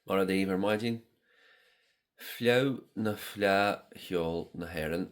Mar a dtaobh ar maidin Fleadh nó Fleá Cheoil na hÉireann,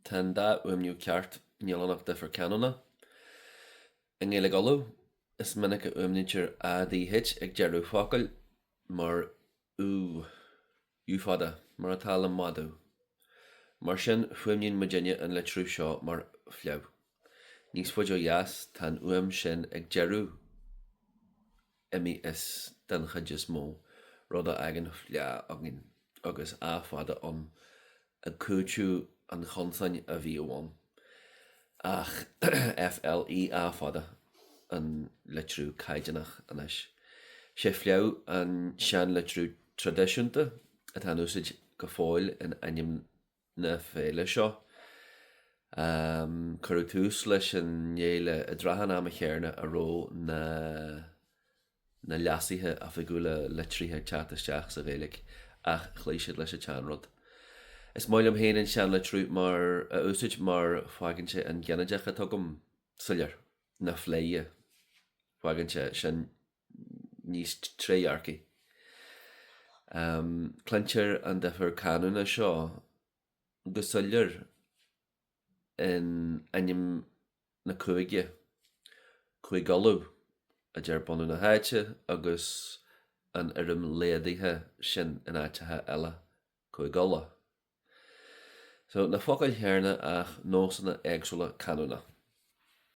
tá an dá fhuaimniú ceart, níl ann ach difear canúna. I nGaeilge Uladh, is minic a fhuaimnítear ADH ag deireadh focail, mar ú, ú fada, mar atá le madadh. Mar sin, fuaimníonn muid inne an litriú seo mar fleadh. Níos faide ó dheas, tá an fhuaim sin ag deireadh. imithe, den chuid is mó, rud a fhágann fleá againn agus á fada ann ag cúiteamh an chonsain a bhíodh ann. Ach F L E Á fada, an litriú caighdeánach anois. Sé fleadh an seanlitriú traidisiúnta atá in úsaid go fóill in ainm na féile seo. Cuireadh tús leis an fhéile i dtrátha an ama chéarna a raibh na na leasuithe oifigiúla litrithe ag teacht isteach sa Ghaeilge ach chloígh siad leis an tseanrud. Is maith liom féin an seanlitriú a úsáid mar fágann sé an ginideach dar liom soiléir, na fleidhe, fágann sé sin níos trédhearcaí. Cluintear an difear canúna seo go soiléir in ainm na cúige, Cúige Uladh a deir bunadh na háite agus an fhoirm laghdaithe sin in áiteacha eile, Cúige Uladh. Só, na focail chéanna ach nósanna éagsúla canúna.